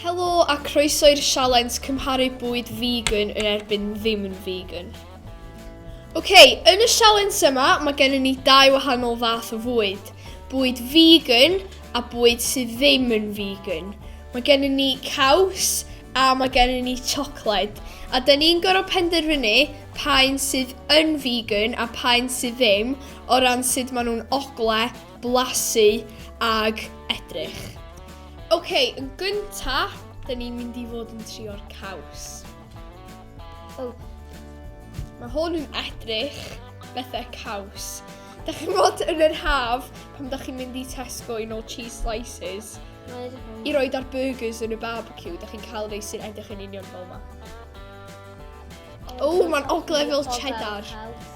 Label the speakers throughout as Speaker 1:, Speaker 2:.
Speaker 1: Helo a croeso i'r sialens cymharu bwyd vegan yn erbyn ddim yn vegan. Oce, okay, yn y sialens yma mae gennym ni dau wahanol fath o fwyd. Bwyd vegan a bwyd sydd ddim yn vegan. Mae gennym ni caws a mae gennym ni chocolate. A da ni'n gorfod penderfynu pa un sydd yn vegan a pa un sydd ddim o ran sut maen nhw'n ogle blasu ag edrych. Ok, yn gynta, da ni'n mynd i fod yn trio'r caws. Oh. Mae hwn yn edrych bethau caws. Da chi'n bod yn yr haf pan da chi'n mynd i Tesco i nôl cheese slices. I roi dar burgers yn y barbecue, da chi'n cael rei sy'n edrych yn union fel yma. O, oh, mae'n oglefel cheddar.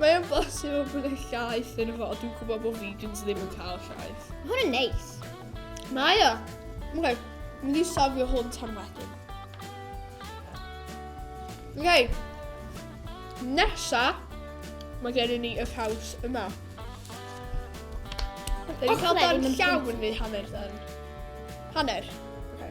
Speaker 1: Mae'n bosib o bod y llaeth yn fod. Dwi'n gwybod bod vegans ddim yn cael llaeth. Mae hwn yn neis.
Speaker 2: Mae o.
Speaker 1: Mwyn, mynd i sofio hwn tan wedyn. Okay. Nesa, mae gen i ni y caws yma. Dyn ni'n cael dan llawn neu hanner dan? Hanner. Okay.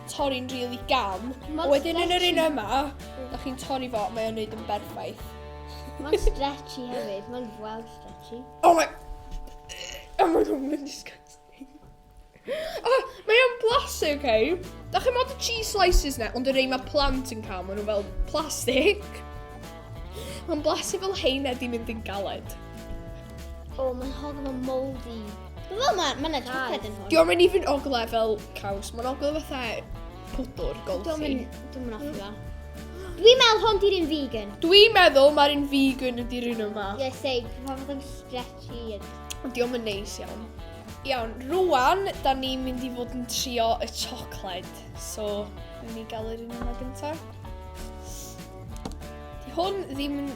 Speaker 1: torri'n rili really gam. A wedyn yn yr un yma, da chi'n torri fo, mae o'n neud yn berffaith. Mae'n
Speaker 2: stretchy hefyd, mae'n well stretchy. Oh
Speaker 1: my... Oh my god, mae'n disgusting. oh, mae o'n blasu, oce? Okay? Da chi'n modd y cheese slices na, ond y rei mae plant yn cael, maen nhw fel plastic. Mae'n blasu fel heina di mynd yn galed. O, oh,
Speaker 2: mae'n hodd o'n moldy. Wel, mae ma yna triped yn hwn. Diolch yn even ogle
Speaker 1: fel caws, mae'n ogle fatha pwdwr, golchi. Diolch yn Diolch yn ogle.
Speaker 2: Dwi'n meddwl hwn di'r un vegan. Dwi'n meddwl mae'r un
Speaker 1: vegan ydy'r un yma. Ie, yes, ei, pa fath yn
Speaker 2: stretchy. Diolch yn
Speaker 1: neis iawn. Iawn, rwan, da ni'n mynd i fod yn trio y chocolate. So, ni gael yr un yma gyntaf. Di hwn ddim yn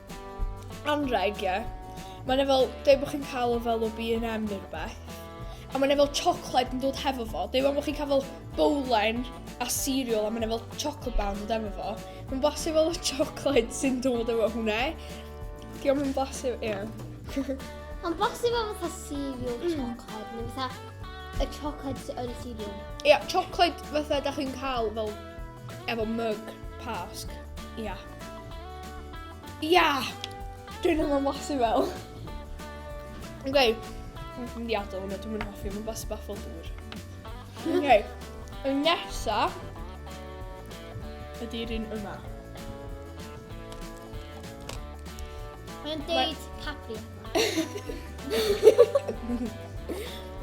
Speaker 1: anrheg, ie. Mae yna fel, dweud bod chi'n cael o fel o B&M neu rhywbeth. A mae yna fel chocolate yn dod hefo fo. Dweud bod chi'n cael fel bowlen a cereal a mae yna fel chocolate bar yn dod hefo fo. Mae'n blasu fel y chocolate sy'n dod efo hwnna. Di o'n blasu, ie. Mae'n
Speaker 2: blasu fel fatha cereal mm. chocolate neu fatha y chocolate yn y cereal. Ie, chocolate
Speaker 1: fatha da chi'n cael fel efo mug pasg. Ie. Yeah. Ia! Dwi'n ddim yn wasu fel. Ok, dwi'n mynd i adael hwnna, dwi'n mynd hoffi, mae'n bas bach fel dŵr. Ok, y nesa ydy'r un yma.
Speaker 2: Mae'n deud Cadbury.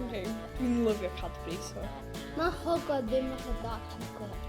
Speaker 1: ok, dwi'n lyfio Cadbury, so. Mae hogod
Speaker 2: ddim yn dda chocolate.